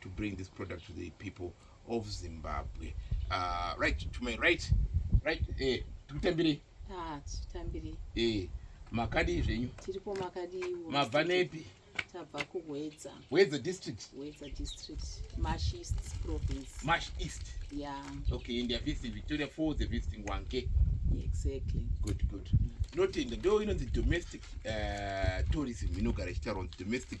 to bring this product to the people of zimbabwe uh, right to my right right eh, tikutambirei ah, titambirei eh, makadii zvenyu tiripo makadiiwo mabva nepi tabva kuhwedza hwedza district hwedza district mash east province mash east yeah okay and they're visiting victoria falls they're visiting wanke exactly good good mm. notenda ndo inonzi domestic uh, tourism inogara ichitaurwa domestic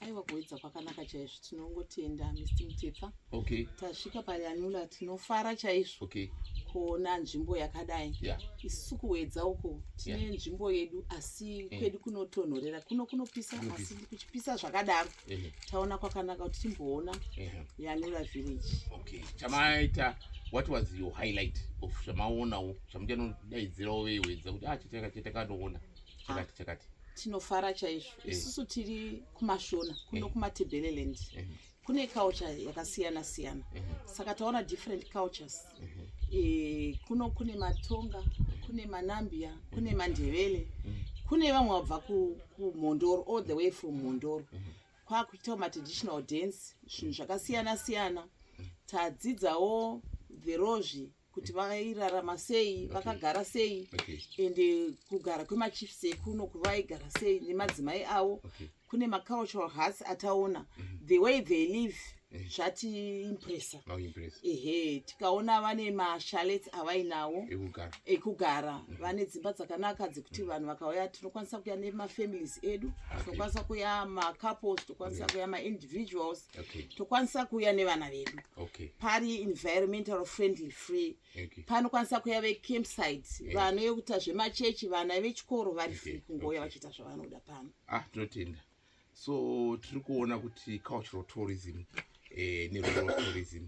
aiwa kuedza kwakanaka chaizvo tinongotenda mist mutepfa okay. tasvika payanula tinofara chaizvo okay. kuona nzvimbo yakadai yeah. isusu kuedza uko tine yeah. nzvimbo yedu asi yeah. Mm. kwedu kunotonhorera kuno kunopisa mm -hmm. asi kuchipisa zvakadaro mm -hmm. taona kwakanaka kuti timboona mm -hmm. yanula village okay. chamaita what was your highlight of zvamaonawo zvamuchanodaidzirawo veiwedza kuti ah, chiteka chiteka ndoona chakati chakati tinofara chaizvo eh. isusu tiri kumashona kuno eh. kumatebeleland eh. kune culture yakasiyana siyana saka taona different cultures kuno kune matonga kune manambia kune mandevele kune vamwe vabva kumhondoro all the way from mhondoro kwakuitawo matraditional dance zvinhu zvakasiyana siyana tadzidzawo verozvi kuti vairarama sei vakagara sei and kugara kwemachiefs ekuno kuvaigara sei nemadzimai avo kune macultural hearts ataona mhm. the way they live eh. zvatiimpressa oh, ehe tikaona vane mashalets avainawo ekugara mhm. vane dzimba dzakanaka dzekuti mhm. vanhu vakauya tinokwanisa kuya nemafamilies edu tinokwanisa kuya macouples tinokwanisa kuya maindividuals okay. tokwanisa kuuya nevana vedu okay. pari environmental friendly free okay. panokwanisa kuya vecampsite yeah. vanoyekuita zvemachechi vana vechikoro vari okay. free kungouya okay. vachiita zvavanoda pano ah, tinotenda so tiri kuona kuti cultural tourism eh, nerural tourism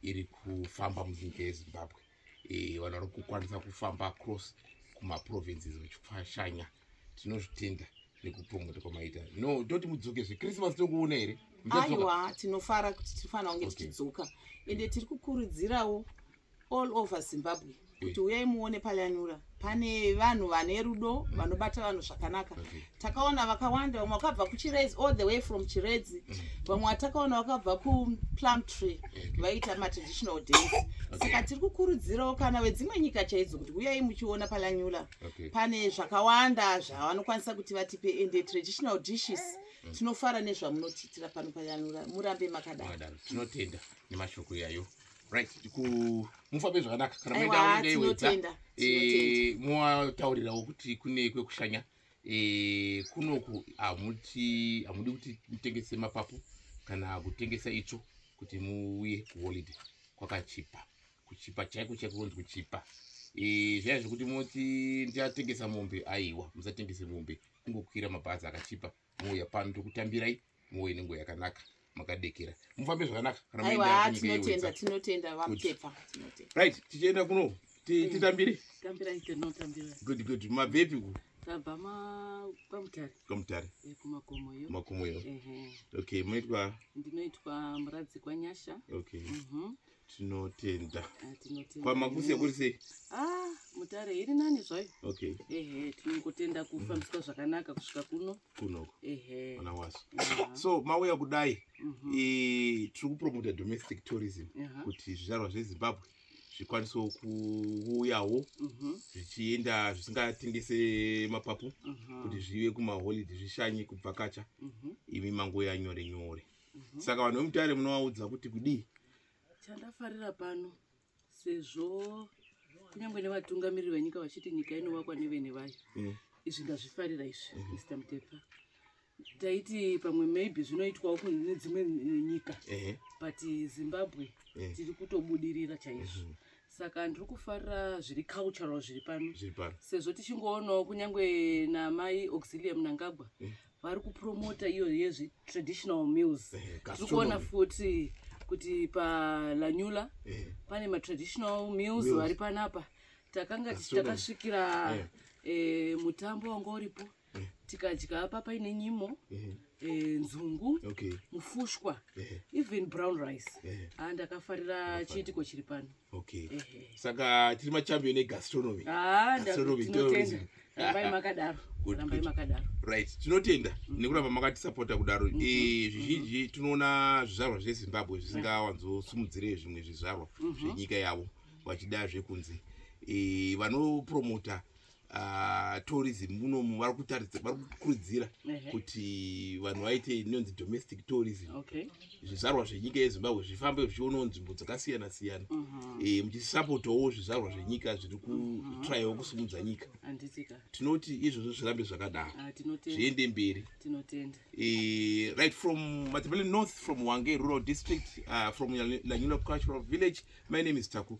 iri kufamba munzinga yezimbabwe e, vanhu vari kukwanisa kufamba across kumaprovinces vachifashanya tinozvitenda nekupromota kwamaita no toti mudzoke zve christmas tokuona here aiwa tinofara kuti tirifanira kunge tichidzoka okay. ende tiri kukurudzirawo all over zimbabwe kuti uyai muone palanura pane vanhu vane rudo mm. vanobata vanhu zvakanaka okay. takaona vakawanda vamwe vakabva kuchiredzi all the way from chiredzi mm. vamwe mm. vatakaona vakabva kuplum tree vaita okay. matraditional days okay. saka tiri kukurudzirawo kana vedzimwe nyika chaidzo kuti huyai muchiona palanyula okay. pane zvakawanda zvavanokwanisa kuti vatipe ende traditional dishes mm. tinofara nezvamunotiitira pano palanyula murambe makadaro tinotenda nemashoko iyayo right mufambe zvakanaka kana maendaaaiwedza eh, mowataurirawo kuti kune kwekushanya eh, kunoku hamuti hamudi kuti mutengese mapapu kana kutengesa itsvo kuti muuye kuholiday kwakachipa kuchipa chaiko chaiko kunzi kuchipa eh, zvaya zvekuti moti ndichatengesa mombe aiwa musatengese mombe kungokwira mabhazi akachipa mouya pano tokutambirai mouye nenguva yakanaka makadekera mufambe zvakanaka kanaaitinotendaarit tichienda kuno hmm. titambire good good mabvepi ku kwamutare eh, kumakomoyo okay moitwa ndinoitwa muradzi kwanyasha okay mhm. tinotenda ah, tinotenda kwamakuse kuri sei ah mutare iri nani zvayo okay ehe tinongotenda kufambiswa mm. zvakanaka kusvika kuno kunoko ehe ana waso so mauya kudai mm -hmm. e, tiri kupromota domestic tourism uh -huh. kuti zvizvarwa zvezimbabwe zvikwanisewo kuuyawo mhm. zvichienda zvisingatengese mapapu mhm. kuti zvive kumaholiday zvishanye kubvakacha mhm. imi mangouya nyore nyore Mhm. saka vanhu vemutare munovaudza kuti kudii chandafarira pano sezvo kunyange nevatungamiriri venyika vachiti nyika inovakwa nevene vayo Mm. izvi ndazvifarira izvi mr mutepa taiti pamwe maybe zvinoitwawo kun- nedzimwe nyika Ehe. but zimbabwe Eh. tiri kutobudirira chaizvo saka ndiri kufarira zviri cultural zviri pano zviri pano sezvo tichingoonawo kunyange namai auxilium nangagwa vari kupromota iyo yezvi traditional mills tiri kuona futi kuti palanyula eh. pane matraditional mills vari panapa takanga takasvikira eh. eh, mutambo wanga uripo tikadya apa paine nyimo nzungu mufushwa even brown rice andakafarira chiitiko chiri pano okay saka tiri machampion egastronomy ah, gastronomy tourism rambai makadaro rambai makadaro right tinotenda mm. nekuramba makatisapota kudaro mm-hmm. eh, zvizhinji mm-hmm. tinoona zvizvarwa zvezimbabwe zvisingawanzosumudzire zvimwe zvizvarwa mm-hmm. zvenyika yavo vachida zvekunze eh, vanopromota uh, tourism munomu vari kutaridza vari kukurudzira kuti vanhu vaite inonzi domestic tourism zvizvarwa okay. zvenyika yezimbabwe zvifambe zvichionawo nzvimbo dzakasiyana siyana uh -huh. e, eh, muchisapotawo zvizvarwa zvenyika zviri kutraiwo mhm. kusimudza nyika tinoti izvozvo zvirambe zvakadaro ah, zviende mberi e, right from matebele north from wange rural district uh, from lanyula cultural village my name is taku